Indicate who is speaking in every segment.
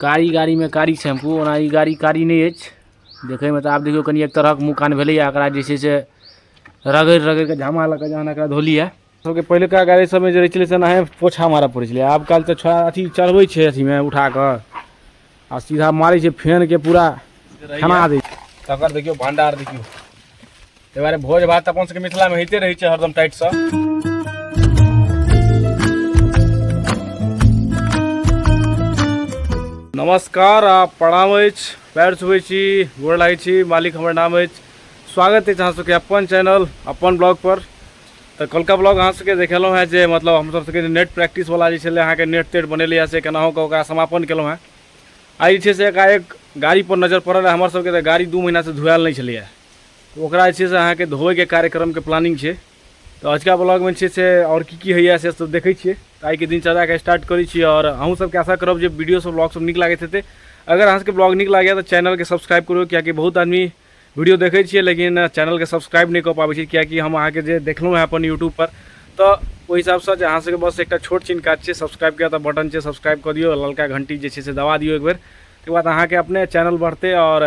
Speaker 1: कारी गाड़ीमे कारी शैम्पू ओना ई गाड़ी कारी नहि अछि देखैमे तऽ आब देखिऔ कनि एक तरहके मुँह कान भेलैए एकरा जे छै से रगड़ि रगड़िके झामा लऽ कऽ जहन एकरा धोली अइ सबके पहिलुका गाड़ी सबमे जे रहै छलै से एनाहे पोछा मारऽ पड़ै छलै आब काल्हि तऽ छो अथी चढ़बै छै अथीमे उठाकऽ आओर सीधा मारै छै फेनके पूरा खना दै छै तकर देखियौ भण्डार देखियौ ताहि दुआरे भोज भात अपन सबके मिथिला में होइते रहै छै हरदम टाइट सँ नमस्कार आ प्रणाम अछि पैर छुबै छी गोर लागै छी मालिक हमर नाम अछि स्वागत अछि अहाँ सबके अपन चैनल अपन ब्लॉग पर तऽ कलका ब्लॉग अहाँ सबके देखेलहुँ हेँ जे मतलब हम सब सबके जे नेट प्रैक्टिस वाला जे छलै अहाँके नेट तेट बनेले हँ से केनाहु कऽ ओकरा समापन केलहुँ हेँ आइ जे छै से एकाएक गाड़ी पर नजर पड़ल हँ हमर सबके तऽ गाड़ी दू महीना से धुआएल नहि छलैए तऽ ओकरा जे छै से अहाँके धोबैके कार्यक्रमके प्लानिंग छै तऽ अजुका ब्लॉगमे छै से आओर की की होइए से सब देखै छियै तऽ आइके दिनचर्याके स्टार्ट करै छी आओर अहूँ सबके आशा करब जे वीडियो सब ब्लॉग सब नीक लागैत हेतै अगर अहाँ सबके ब्लॉग नीक लागैए तऽ चैनलके सब्सक्राइब करू कियाकि बहुत आदमी वीडियो देखै छियै लेकिन चैनलके सब्सक्राइब नहि कऽ पाबै छै कियाकि हम अहाँके जे देखलहुँ हँ अपन यूट्यूबपर तऽ ओहि हिसाबसँ जे अहाँ सबके बस एकटा छोट छिन काज छै सब्सक्राइब के तऽ बटन छै सब्सक्राइब कऽ दियौ ललका घंटी जे छै से दबा दियौ एक बेर तकर बाद अहाँके अपने चैनल बढ़तै आओर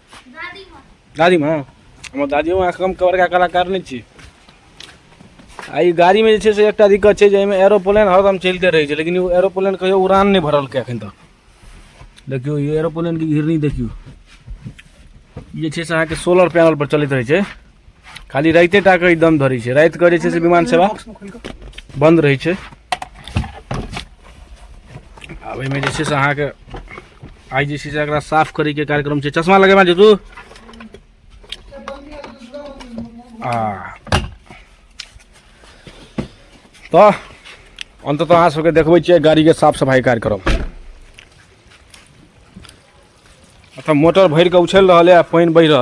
Speaker 1: गाड़ी में हमर दादियो अहाँ कम कवर का कलाकार नहीं छी आ ई गाड़ी में जे छै से एकटा दिक्कत छै जे एहिमे एरोप्लेन हरदम चलिते रहै छै लेकिन ओ एरोप्लेन कहियो उड़ान नहि भरलकै एखन तक देखियौ ई एरोप्लेन के घिरनी देखियौ ई जे छै से अहाँके सोलर पैनल पर चलैत रहै छै खाली राइते टा के दम धरे छै रात करे छै से विमान सेवा बंद रहे छै आब एहिमे जे छै से अहाँके आइ जे छै से एकरा साफ करैके कार्यक्रम छै चश्मा लगेबा जे तू आ तऽ अन्ततः अहाँ सबके देखबै छियै गाड़ीके साफ सफाइ कार्यक्रम अतः मोटर भरिकऽ उछलि रहल यऽ पानि बहि रहल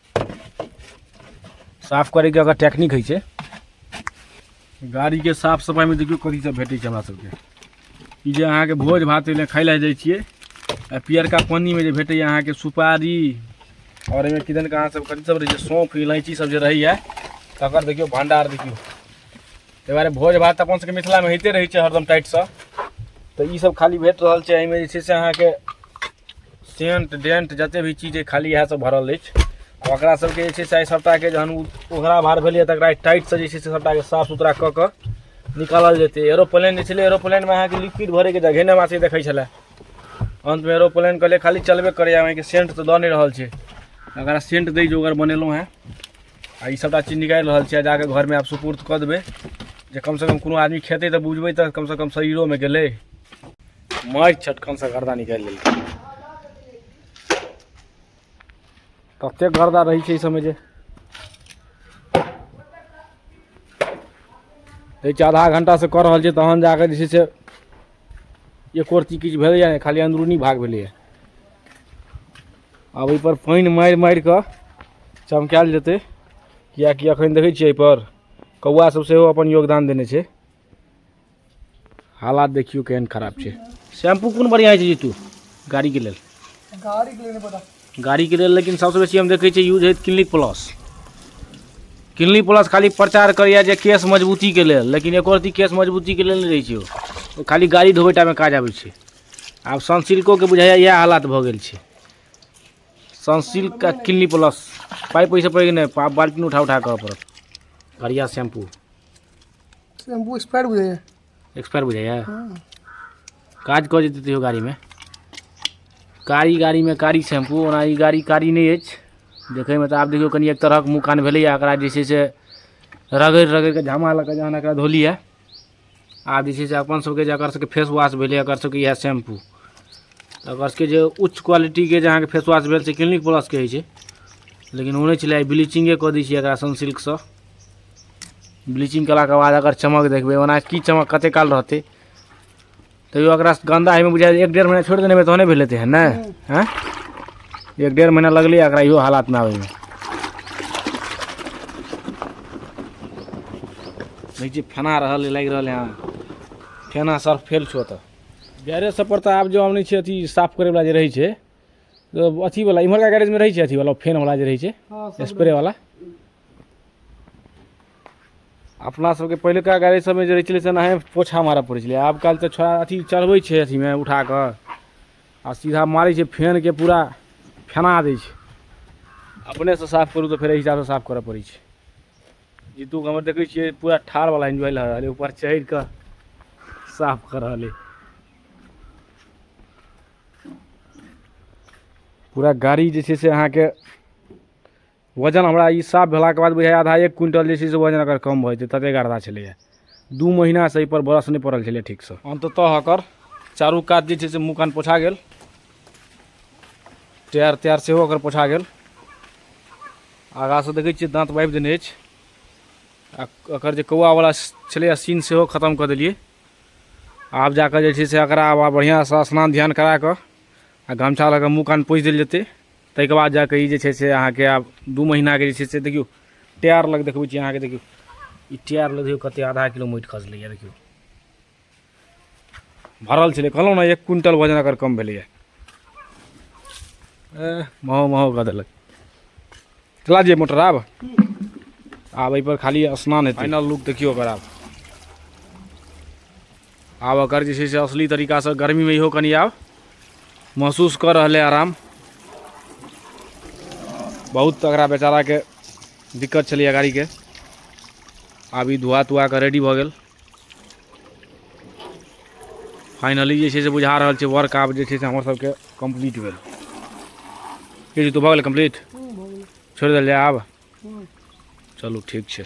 Speaker 1: साफ करैके अगर टेक्निक होइ छै गाड़ीके साफ सफाइमे देखियौ कथी सब भेटै छै हमरा सबके ई जे अहाँके भोज भात एने खाइ लए जाइ छियै आ पियरका पानिमे जे भेटैए अहाँके सुपारी आओर एहिमे किदन के अहाँ सब कथी सब रहै छै सौंफ इलायची सब जे रहैए तकर देखियौ भंडार देखियौ ताहि दुआरे भोज भात अपन सबके मिथिलामे होइते रहै छै हरदम टाइटसँ तऽ ई सब खाली भेट रहल छै एहिमे जे छै से अहाँके सेंट डेंट जते भी चीज अइ खाली इएह सब भरल अछि आ ओकरा सबके जे छै से आइ सभटाके जहन उ- ओकरा भार भेलैए तकरा टाइटसँ जे छै से सभटाके साफ सुथरा कऽ कऽ निकालल जेतै एरोप्लेन जे छलै एरोप्लेनमे अहाँके लिक्विड भरैके जगह नहि हमरा सबके देखै छलै अन्तमे एरोप्लेन कहलिए खाली चलबे करैए अहाँके सेंट तऽ दऽ नहि रहल छै अगर सेंट दै जोगर बनेलहुँ हेँ आ ई सभटा चीज निकालि रहल छियै जाके घरमे आब सुपुर्द कऽ देबै जे कमसँ कम कोनो आदमी खेतै तऽ बुझबै तऽ कमसँ कम शरीरोमे गेलै मारि छटकनसँ गर्दा निकालि लेलकै ततेक गर्दा रहै छै एहि सभमे जे दै छै आधा घण्टासँ कऽ रहल छै तहन जाकऽ जे छै से एक रत्ती किछु भेलैए नहि खाली अन्दरूनी भाग भेलैए आब एहिपर पानि मारि मारि कऽ चमकायल जेतै किएकि एखन देखै छियै एहिपर कौआ सभ सेहो अपन योगदान देने छै हालात देखियौ केहन खराब छै शैम्पू कोन बढ़िआँ होइ छै जीतू गाड़ीके लेल गाड़ीके
Speaker 2: लेल पता गाड़ीके लेल लेकिन
Speaker 1: सभसँ बेसी हम देखै छियै यूज होइत क्लिनिक प्लस क्लिनिक प्लस खाली प्रचार करैए जे केस मजबूतीके लेल लेकिन एको रती केस मजबूतीके लेल नहि रहै छै ओ खाली गाड़ी धोबै टाइममे काज आबै छै आब सनसिल्कोके बुझाइए इएह हालत भऽ गेल छै सनसिल्क आ क्लिनिक प्लस पाइ पैसे पड़ि नहि पा बाल्टीन उठा उठा करऽ पड़त बढ़िआँ शैम्पू शैम्पू एक्सपायर
Speaker 2: बुझाइए एक्सपायर बुझाइए
Speaker 1: काज कऽ जेतै तैयो गाड़ीमे कारी गाड़ीमे कारी शैम्पू ओना ई गाड़ी कारी नहि अछि देखैमे तऽ आब देखियौ कनि एक तरहक मुँह कान भेलैए एकरा जे छै से रगड़ि रगड़ि कऽ झामा लऽ कऽ जहन एकरा धोलियै आब जे छै से अपन सबके जे एकर सबके फेस वॉश भेलै एकर सबके इएह शैम्पू तऽ एकर सबके जे उच्च क्वालिटीके जे अहाँके फेस वॉश भेल से क्लिनिक प्लस कहै छै लेकिन ओ नहि छलै आइ ब्लीचिंगे कऽ दै छियै एकरा सनसिल्कसँ ब्लीचिंग कयलाके बाद एकर चमक देखबै ओना की चमक कतेक काल रहतै तैयो एकरा गन्दा होइमे बुझाइ एक डेढ़ महीना छोड़ि देने तहने भेलै तेहन ने हँ एक डेढ़ महीना लगलै एकरा इहो हालातमे आबैमे देखै छियै फेना रहल लागि रहल हँ फेना सर्फ फेल छौ तऽ गैरेज सब पर तऽ आब जो आनै छै अथी साफ करैवला जे रहै छै अथीवला इम्हरका गैरेजमे रहै छै अथीवला फेनवला जे रहै छै स्प्रेवला अपना सबके पहिलुका गाड़ी सबमे जे रहै छलै से एनाहे पोछा मारय पड़ै छलै आब काल्हि तऽ छौड़ा अथी चढ़बै छै अथीमे उठा कऽ आ सीधा मारै छै फेनके पूरा फेना दै छै अपनेसँ साफ करू तऽ फेर एहि हिसाबसँ साफ करय पड़ै छै जीतू हमर देखै छियै पूरा ठाढ़वला एन्जॉय लऽ रहल ऊपर चढ़ि कऽ साफ कऽ रहल अइ पूरा गाड़ी जे छै से अहाँके वजन हमरा ई साफ भेलाके बाद बुझाइए आधा एक क्विन्टल जे छै से वजन एकर कम भऽ जेतै ततेक गरदा छलैए दू महिनासँ एहिपर ब्रश नहि पड़ल छलै ठीकसँ अन्ततः एकर चारू कात जे छै से मुँह कान पोछा गेल टायर तायर सेहो एकर पोछा गेल आगाँसँ देखै छियै दाँत बाबि देने अछि आ एकर जे कौआवला छलैए सीन सेहो खतम कऽ देलियै आब जाकऽ जे छै से एकरा आब बढ़िआँसँ स्नान ध्यान करा कऽ आ गमछा लऽ कऽ मुँह कान पोछि देल जेतै ताहिके बाद जाके ई जे छै से अहाँके आब दू महीनाके जे छै से देखियौ टायर लग देखबै छी अहाँके देखियौ ई टायर लग देखियौ कते आधा किलो माटि खसलैए देखियौ भरल छलै कहलहुँ ने एक क्विंटल वजन अगर कम भेलैए महो महो कऽ देलक चला जे मोटर आब आब एहिपर खाली स्नान हेतै फाइनल लुक देखियौ ओकर आब आब एकर जे छै से असली तरीकासँ गर्मीमे इहो कनि आब महसूस कऽ रहल अइ आराम बहुत एकरा बेचाराके दिक्कत छलैए गाड़ीके आब ई धुआ तुआ कऽ रेडी भऽ गेल फाइनली जे छै से बुझा रहल छै वर्क आब जे छै से हमर सबके कम्प्लीट भेल की जी तू भऽ गेलै कम्प्लीट छोड़ि देल जाय आब चलू ठीक छै